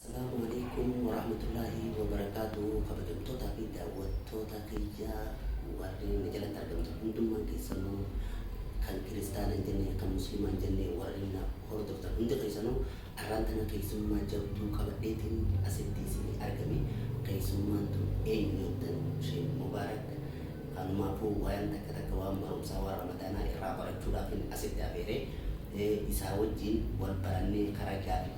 Assalaamu Aleeykum Warahmatullaahi Wabarakaatuhu Kabajamtootaa fi Daawwattoota kiyya warri na jalatti argamtan hundummaan keessanuu kan kiristaana hin jenne kan muslimaa hin jenne warri na hordoftan hundi keessanuu arraan tana keessummaa jabduu qabadheetiin asitti isinii argame keessummaan tun eenyu jettan Sheek Mubaarak kanumaafuu waayaan takka takka waan barumsaa waan ramadaanaa irraa barachuudhaafin asitti afeere isaa wajjiin wal barannee karaa gaafii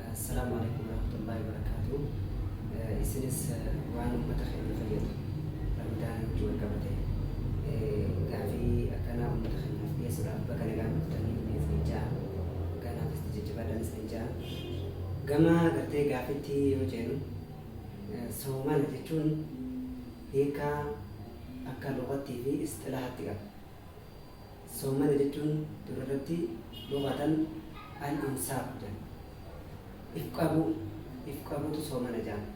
Assalaamu Aleeykum Warahmatullaahi Wabarakaatuuh Isinis waan ummata keenya fayyadu Ramadaa wajji wal qabate gaafii akkanaa ummata keenyaaf dhiyeessuudhaaf baga nagaan dhuftanii isiniin ja'a kanaaf itti jajjabaadhaan isiniin ja'a gama gartee gaafitti yoo jeenu soomana jechuun hiikaa akka lugattii fi isxilahatti qaba Soommana jechuun dura irratti lughatan al-imsaaku jedhan. If qabuu, if qabuutu soomana jedhama.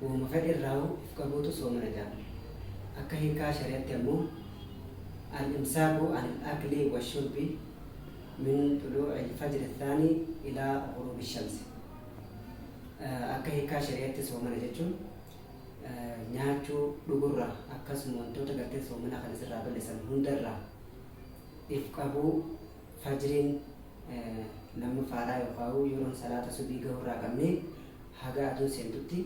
Wahuma fedhe irraahu if qabuutu soomana jedhama. Akka hiikaa shari'atti ammoo al-imsaaku an al-akli wa shurbi min xuluu'i al-fajri athaani ilaa ghuruubi shamsi. Akka hiikaa shari'atti soomana jechuun nyaachuu, dhugurraa akkasuma wantoota gartee soomana kana sirraa balleessan hundarraa if qabuu fajriin lammaffaadhaa yookaa'uu yeroon salaata subii gahurraa qabnee haga aduun seentutti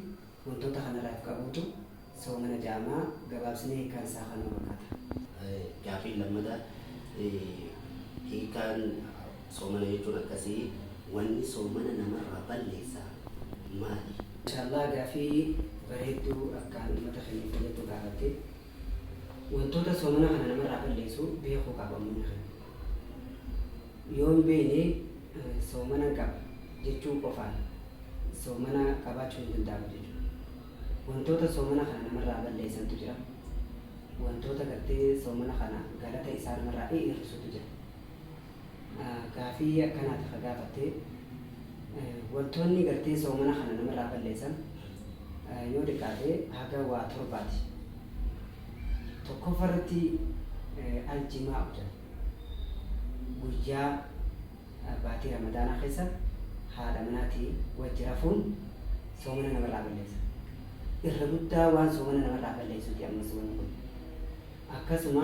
wantoota kanarraa if qabuutu soomana jaamaa gabaabsinee hiikaan isaa kanuma fakkaata. Gaafiin lammataa hiikaan Soomana jechuun akkasi wanni soomana namarraa balleessa maali? Mashaallaa gaafii bareeddu akkaan ummata keenyaf fayyaddu gaafatte. Wantoota soomana kana namarraa balleessu beekuu qaba ummanni keenya. Yoo hin beeyne soomanan qaba jechuu qofaan soomana qabaachuu hin danda'amu jechuudha. Wantoota soomana kana namarraa balleessantu jira. Wantoota gartee soomana kana galata isaa namarraa hi'irrisutu jira. Gaafii akkanaati ka gaafatte. Wantoonni gartee soomana kana namarraa balleessan yoo diqqaate haga waa torbaati. Tokkoffa irratti aljimaa'u jedha. Guyyaa baatii ramadaanaa keessa haadha manaati wajji rafuun soomana namarraa balleessa. Irra guddaa waan soomana namarraa balleessuuti ammas wanni kun. Akkasuma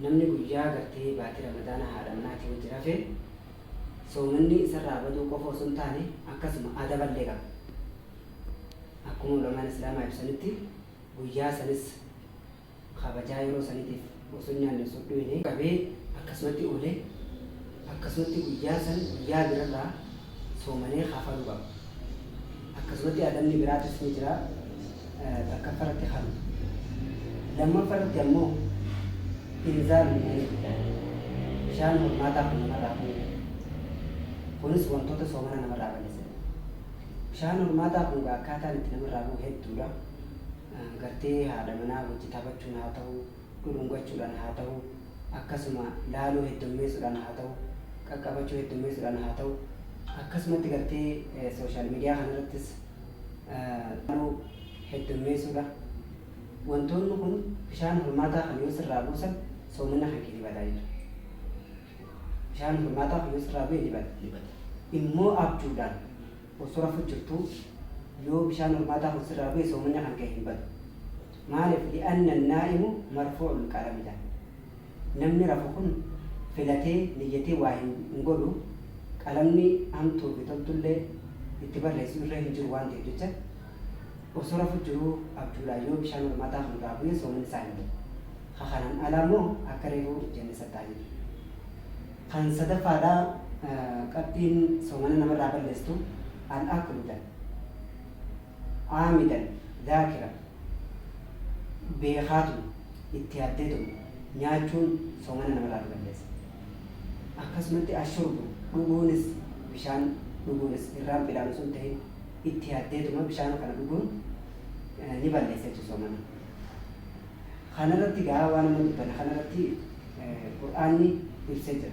namni guyyaa gartee baatii ramadaana haadha manaatii wajji rafe soomanni isarraa baduu qofa osoo hin taane akkasuma adaballee qaba. Akkuma ulamaan islaamaa ibsanitti guyyaa sanis kabajaa yeroo saniitiif osoo hin nyaanne osoo hin dhuyne qabee akkasumatti oole akkasumatti guyyaa san guyyaa birarraa soomanee kafaluu qaba. Akkasumatti adabni biraatis ni jira, takkaffa irratti kanuma. Lammaffa irratti ammoo inzaalun manii fiddan, bishaan hormaataa kun namarraa kuni jedhe. Kunis wantoota soomana namarraa balleessan. Bishaan hormaataa kun egaa akkaataan itti namarraa bu'u hedduudha. Gartee haadha manaa wajji taphachuun haa ta'u, dhudhungachuudhaan haa ta'u, akkasuma laaluu heddummeessuudhaan haa ta'u, qaqqabachuu heddummeessuudhaan haa ta'u, akkasumatti gartee social media kana irrattis laaluu heddummeessuudha. Wantoonni kun bishaan hormaataa kan yoo sirraa buusan soomanna kan kee ni badaa jechuudha. Bishaan hormaataa kan yoo sirraa bu'e ni bada. ni bada. Immoo abjuudhaan osoo rafu jirtuu yoo bishaan hormaataa kun sirraa bu'e soomanna kan kee hin badu. Maalif? Li'anna annaa'imu marfuu'ul qalami jedhan. Namni rafu kun filatee, niyyatee waa hin godhu, qalamni hamtuu fi toltullee itti barreessu irra hin jiru waan ta'eef jecha, osoo rafu jiruu abjuudhaan yoo bishaan hormaataa kun irraa bu'e soomanni isaa hin badu. Ka kanaan alaa immoo akka reefu jenne san ta'a jechuudha. Kan sadaffaadhaa qabxiin soomana namarraa balleesstu, al-aklu jedhan. Aamidan, Zaakira, beekaatuma, itti yaaddeetuma, nyaachuun soomana namarraa ni balleessa. Akkasumatti ashurbu, dhuguunis, bishaan dhuguunis, irraan fidaan osoo hin tahin itti yaaddeetuma bishaan kana dhuguun ni balleessa jechuudha soomana. Kanarratti gaa waan amma dubbanne kanarratti Qur'aanni ibsee jira.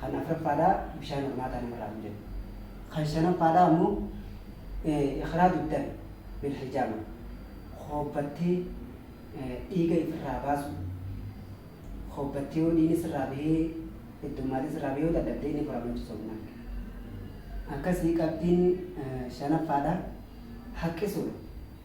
Kan afraffaadhaa bishaan hormaataa namarraa hin deemu. Kan shanaffaadhaa ammoo ikhraaju dami bil hijaama hoobbattee dhiiga ifirraa baasu hoobbattee yoo dhiigni sirraa bahee heddummaatee sirraa bahee yoo dadhabde inni furama jechuudha sunnaan. Akkasii qabxiin shanaffaadhaa haqqisuudha.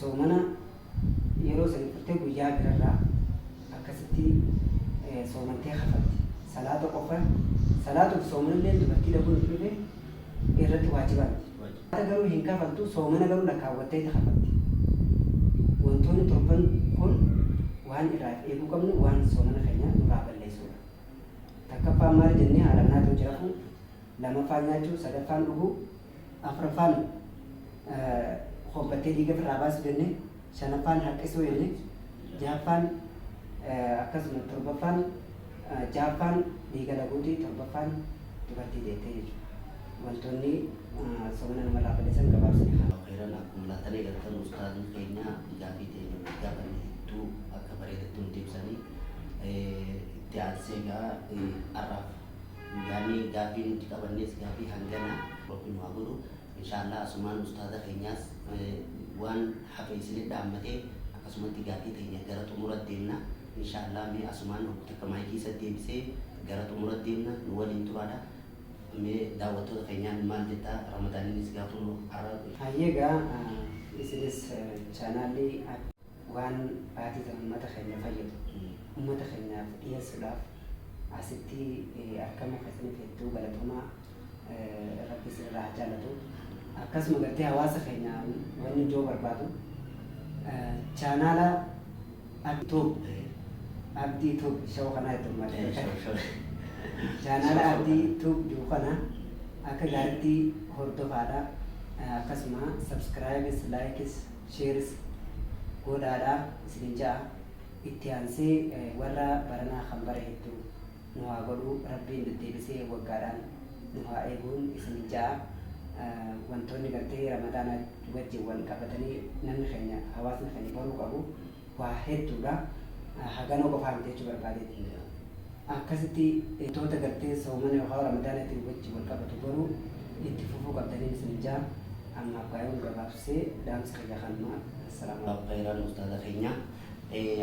soomana yeroo sani furtee guyyaa birarraa akkasitti soomantee kafalti salaata qofa salaatuuf soomanilleen dubartii dhabuun itti dhufe irratti waajiba miti salaata garuu hin kafaltu soomana garuu lakkaawwatteeti kafalti wantoonni torban kun waan irraaf eeguu qabnu waan soomana keenya nurraa balleessuudha takkaffaan maali jennee haala kanaatiin jirafuu lamaffaan nyaachuu sadaffaan dhuguu afraffaan hobbattee dhiiga irraa baasu jenne shanaffaan haqqisuu jenne jahaffaan akkasuma torbaffaan jahaffaan dhiiga laguuti torbaffaan dubartii deettee jechuudha. Wantoonni soomana namarraa balleessan gabaabsine kana. Heeran akkuma laattanii galtan ustaadni keenya gaafii teenya guddaa kan hedduu akka bareedatti nuti ibsanii itti aansee gaa har'aaf Yaani gaafii nuti qabannees gaafii hangana rabbi nu haa godhu inshaallaa asumaan ustaaza keenyaas waan hafe isinit dhaammate akkasumatti gaafii teenya gara xumurat deemna inshaallaa mee asumaan hoggu takka maayikii isat deebisee gara xumurat deemna nu waliin turaadha mee daawwattoota keenyaan maal jetta ramadaaninis gaafuma arra Hayyee egaa isinis chaanaallii. Waan baatii tana ummata keenya fayyadu ummata keenyaaf dhiheessudhaaf asitti argamuu keessaniif hedduu galatomaa rabbi isinirraa haa jaalatu. Akkasuma gartee hawaasa keenya wanni joo barbaadu chaanaala Abdi Tube Abdi Tube show kanaa itti ummata chaanaala Abdi Tube jiru kana akka gaaritti hordofaadha. Akkasuma subscribes likes Shares goodhaadha isinin ja'a itti aansee warra baranaa kan bare heddu nu haa godhu rabbiin deddeebisee waggaadhaan nu haa eeguun isinin ja'a wantoonni gartee ramadaana wajjin wal qabatanii namni keenya hawaasni keenya baruu qabu waa hedduudha. Hagana qofaa miti jechuu barbaadeeti. Akkasitti wantoota gartee soomana yookaan Ramadaanaatiin wajji wal qabatu garuu itti fufuu qabdaniin isiniin ja'a. Ammaaf gaa yoon gabaabsee dhaamsi kiyya kanuma. Assalaamu Jazaakallahu khayran ustaaza keenya.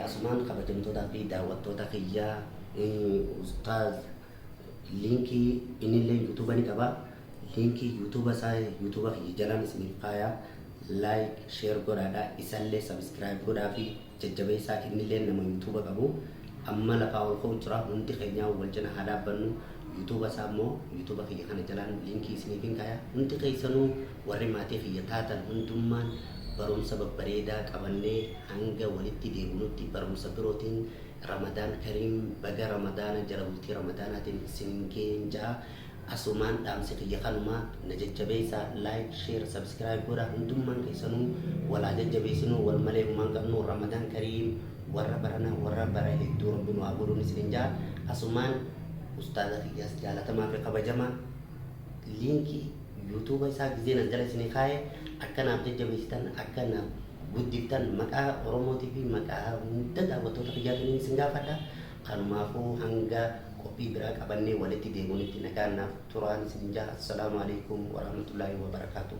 Asumaan kabajamtootaa fi daawwattoota kiyya ustaaz liinkii innilleen youtube ni qaba. Linkii YouTube isaa YouTube kiyya jalaan isiniif kaayaa like share godhaadha isallee subscribe godhaafi jajjabeessaa innillee nama YouTube qabu amma lafaa ol ka'u jira hundi keenyaa wal cina haa dhaabbannu YouTube isaa immoo YouTube kiyya kana jalaan linkii isiniifin kaayaa hundi keessanuu warri maatii kiyya taatan hundummaan barumsa babbareedaa qabannee hanga walitti deebinutti barumsa birootiin Ramadaan Kariim baga Ramadaana jala bultii Ramadaanaatiin isin ga'een ja'a Asumaan dhaamsi kiyya kanuma na jajjabeessa like share subscribe godha hundummaan keessanuu wal haa jajjabeessinuu wal malee humaa hin qabnu Ramadan kariim warra barana warra bara hedduu rabbi nu haa godhuun isinin ja'a asumaan ustaaza kiyyaas jaalatamaa fi kabajamaa liinkii youtube isaa gizeen as jala isinii kaa'e akka naaf jajjabeessitan akka naaf guddiftan maqaa oromootii fi maqaa hunda daawwattoota kiyyaatiniin isin gaafadha kanumaafuu hanga qophii biraa qabannee walitti deemuunitti nagaan naaf turaan isin jaha assalaamu alaikum warahmatullaahi wabarakaatuh.